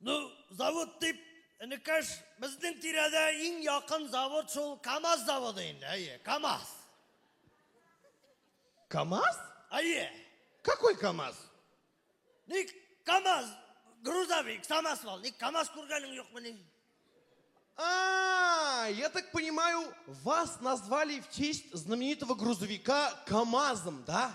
Ну, завод дип, энекәш, безнең тирәдә иң якын завод шул КАМАЗ заводы инде, әйе, КАМАЗ. КАМАЗ? Әйе. Какой КАМАЗ? Ник КАМАЗ, грузовик, самосвал, ник КАМАЗ күргәнең юкмы ни? А, я так понимаю, вас назвали в честь знаменитого грузовика КАМАЗом, да?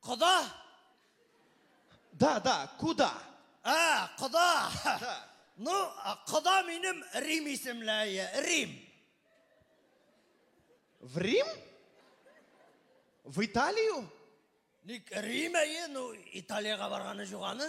Кода? Да, да, куда. А, кода. Да. Ну, кода минем Рим исемләе. Рим. В Рим? В Италию? Ник Рим әйе, ну, Италиягә барганы жуганы.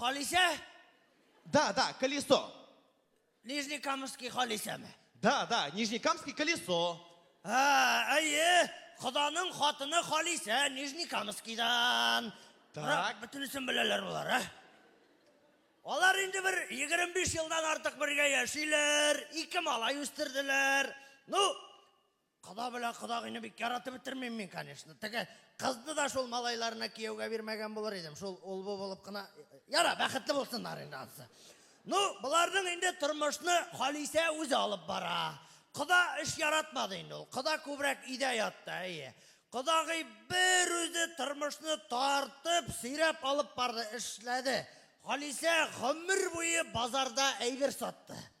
Халисә? Да, да, колесо. Нижнекамский Халисәме? Да, да, Нижнекамский колесо. А, әйе, Ходаның хатыны Халисә Нижнекамскийдан. Так. Бөтенесен беләләр болар, а? Алар инде бер 25 елдан артык бергә яшиләр, ике малай үстерделәр. Ну, Кода белән кодагыйны бик яратып бетермим мин, конечно. Теге кызны да шул малайларына кияүгә бирмәгән булыр идем. Шул ул бу булып кына. Яра, бәхетле булсыннар инде ансы. Ну, боларның инде тормышны Халисә үзе алып бара. Кода эш яратмады инде ул. Кода күбрәк өйдә ятты, әйе. Кодагый бер үзе тормышны тартып, сөйрәп алып барды, эшләде. Халисә гомер буе базарда әйбер сатты.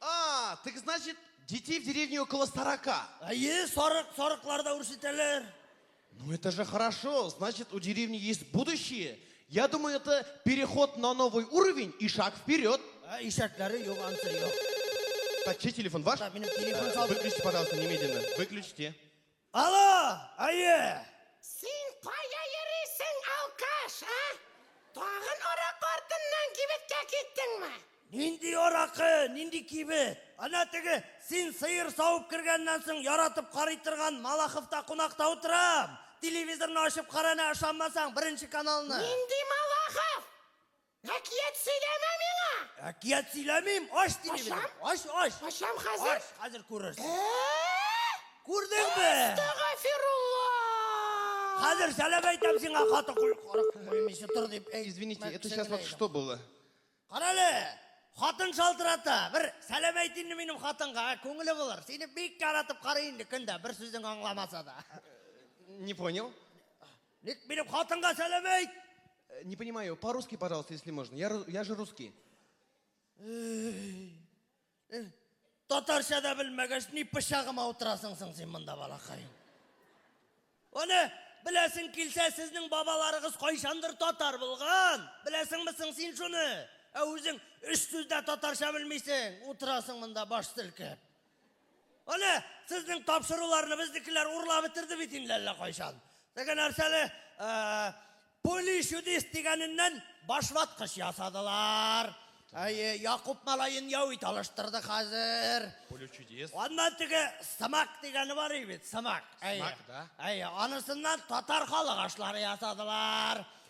А, так значит, детей в деревне около сорока. Әйе, сарык, сарыклар да үрчетәләр. Ну это же хорошо, значит у деревни есть будущее. Я думаю, это переход на новый уровень и шаг вперед. Ә, Ишәкләре юк, ансы юк. Так, чей телефон ваш? Да, минем телефон Э, салды. Выключите, пожалуйста, немедленно. Выключите. Алло, әйе! Син кая йөрисең, алкаш, а? Тагын арак артыннан кибеткә киттеңме? Нинди аракы, нинди кибет? Ана теге, син сыер савып кергәннән соң яратып карый торган Малаховта кунакта утырам. Телевизорны ачып кара әнә, ышанмасаң, беренче каналны. Нинди Малахов? Әкият сөйләмә миңа! Әкият сөйләмим, ач тиле Ачам? белән. Ач, ач. Ачам хәзер. Ач, хәзер күрерсең. Ә-ә-ә! Күрдеңме? Әстәгафирулла! Хәзер сәлам әйтәм сиңа, хаты куй, карак күрмичә тор дип. Әй, Извините, мә, это сейчас вот кесәңдә что было? Кара әле, хатын шалтырата. Бер сәлам әйт инде минем хатынга, ә, күңеле булыр. Сине бик яратып карый инде көн дә, бер сүзең аңламаса да. Не понял. Ник минем хатынга сәлам әйт! Э, не понимаю, по-русски, пожалуйста, если можно. Я, я же русский. Э, татарча да белмәгәч, ни пычагыма утырасың соң син монда, балакаем? Аны беләсең килсә, сезнең бабаларыгыз кайчандыр татар булган. Беләсеңме соң син шуны? Ә үзең өч сүздә татарча белмисең, утырасың монда баш селкеп. Аны сезнең тапшыруларны безнекеләр урлап бетерде бит инде әллә кайчан. Теге нәрсәле полишудис дигәненнән башваткыч ясадылар. Әйе, Якуб малаен яу ит алыштырды хәзер. Полишудис. Аннан теге сымак дигәне бар бит, сымак. Әйе. Сымак, да. Әйе, анысыннан татар халык ашлары ясадылар.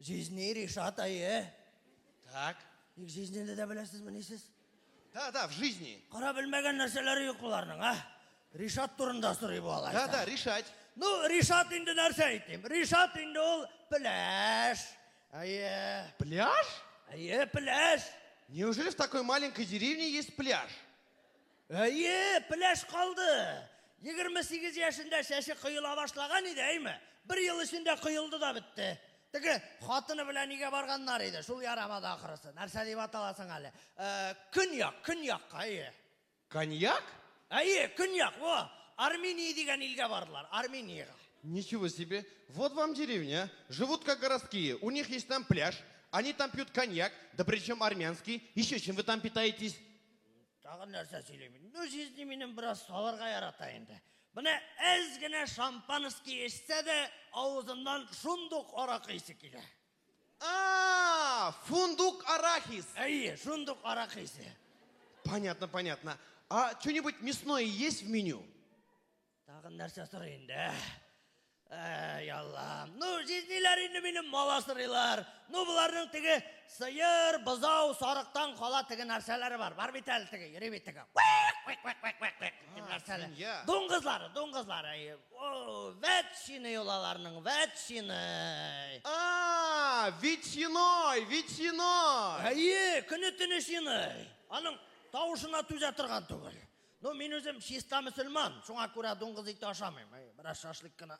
Жизни, Ришат, әйе. Так. Ник жизнене дә беләсезмени сез? Да, да, в жизни. Кара белмәгән нәрсәләре юк боларның, а? Ришат турында сорый бу алай. Да, да, решать. Ну, Ришат инде нәрсә әйтим? Ришат инде ул пляж. Әйе. Пляж? Әйе, пляж. Неужели в такой маленькой деревне есть пляж? Әйе, пеләш калды! Егерме сигез яшендә чәче коела башлаган иде, әйме? Бер ел эчендә коелды да бетте. Теге хатыны белән өйгә барганнар иде, шул ярамады ахрысы. Нәрсә дип атала соң әле? Ә, Көньяк, Көньякка, әйе. Коньяк? Әйе, Көньяк, во! Армения дигән илгә бардылар, Армениягә. Ничего себе! Вот вам деревня, живут как городские, у них есть там пляж, они там пьют коньяк, да причем армянский, еще чем вы там питаетесь? Тагын нәрсә сөйлим? Ну, җизни минем бераз салырга ярата инде. Менә әз генә шампанский эчсә дә, авызыннан шундук аракы исе килә. А, фундук арахис. Әйе, шундук аракы исе. Понятно, понятно. А что-нибудь мясное есть в меню? Тагын нәрсә сорый инде? Әй, Аллам. Ну, җизниләр инде минем мала сырыйлар. Ну, боларның теге сыер, бозау, сарыктан кала теге нәрсәләре бар. Бар бит әле теге, йөри бит теге. Нәрсәләр. Дуңгызлары, дуңгызлары. О, ветчины юлаларның, ветчины. А, ветчиной, ветчиной. Әйе, көне-төне шиной. Аның тавышына түзә торган түгел. Ну, мин үзем чиста мөселман, шуңа күрә дуңгыз ите ашамыйм. Әй, Бераз шашлык кына.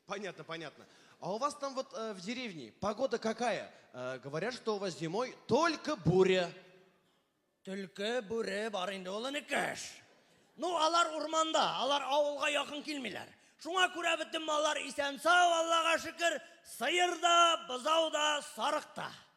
Понятно, понятно. А у вас там вот э, в деревне погода какая? Э, говорят, что у вас зимой только буря. Төлке, бүре бар инде ул энекәш. Ну, алар урманда, алар авылга якын килмиләр. Шуңа күрә бөтен маллар исән-сау, Аллага шөкер, сыер да, бозау да, сарык та.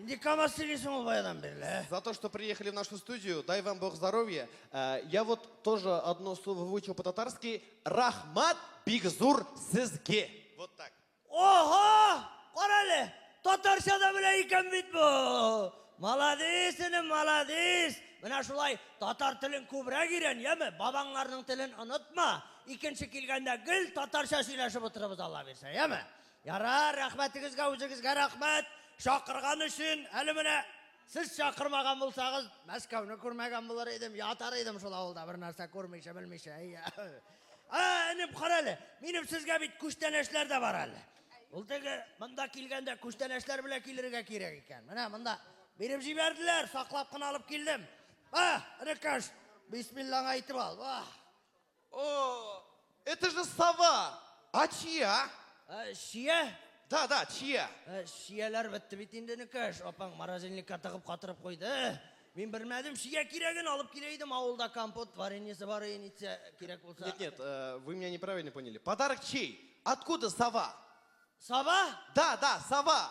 Инде камаз сөйлисең ул баядан бирле, ә? За то, что приехали в нашу студию, дай вам Бог здоровья. Э, Я вот тоже одно слово выучил по-татарски. Рахмат бигзур сезге. Вот так. Ого! Кара әле! Татарча да белә икән бит бу! Молодец, энем, молодец! Менә шулай татар телен күбрәк өйрән, яме? Бабаңнарның телен онытма. Икенче килгәндә гел татарча сөйләшеп утырабыз, Алла бирсә, яме? Ярар, рәхмәтегезгә үзегезгә рәхмәт, чакырган өчен. Әле менә сез чакырмаган булсагыз, Мәскәүне күрмәгән булыр идем, ятар идем шул авылда бер нәрсә күрмичә, белмичә. Ә, энем, кара әле, минем сезгә бит күчтәнәчләр дә бар әле. Ул теге монда килгәндә күчтәнәчләр белән килергә кирәк икән. Менә монда биреп җибәрделәр, саклап кына алып килдем. Ба, энекәш, бисмиллаңа әйтеп ал. Ба. О, это же сова! А чья? Э, Чия? Да, да, чья? Э, Чияләр бетте бит инде нөкәш. Апаң морозильникка тыгып катырып куйды. Э, Мин белмәдем, чия кирәген алып килә идем. Авылда компот вареньесы бар иде, нитсә кирәк булса. Нет, нет, э, вы меня неправильно поняли. Подарок чей? Откуда сова? Саба? Да, да, сова.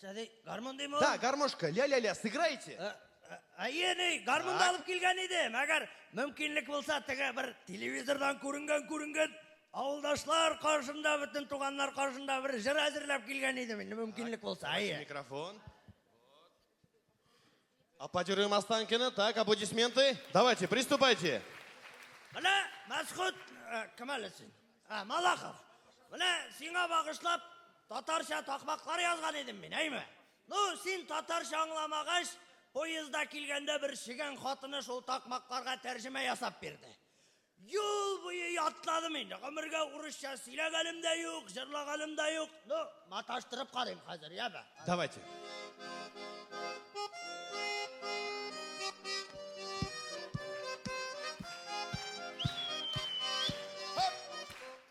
Сәди, гармун дейме? Да, гармошка, ля-ля-ля, сыграйте. Э, э, әйе, ни, гармунды алып килгән идем. Әгәр мөмкинлек булса, теге бер телевизордан күренгән, күренгән авылдашлар каршында, бөтен туганнар каршында бер җыр әзерләп килгән идем. Инде мөмкинлек булса, әйе. Микрофон. Аплодируем Останкина. Так, аплодисменты. Давайте, приступайте. Менә Мәсхүт э, кем әле син? Ә, Малахов. Менә сиңа багышлап татарча такмаклар язган идем мин, әйме? Ну, син татарча аңламагач, поезда килгәндә бер шигән хатыны шул такмакларга тәрҗемә ясап бирде. Юл буе ятладым инде. Гомергә урысча сөйләгәнем дә юк, җырлаганым да юк. Ну, маташтырып карыйм хәзер, яме. Давайте.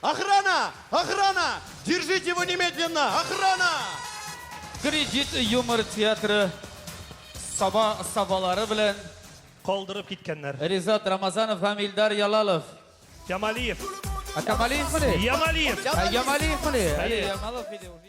Охрана! Охрана! Держите его немедленно! Охрана! Кредит юмор театры саба сабалары белән Калдырып киткәннәр. Ризат Рамазанов һәм Илдар Ялалов. Ямалиев. Ә Камалиевмени? Ямалиев. Ә Ямалиевмени? Әйе. Ямалов иде уже.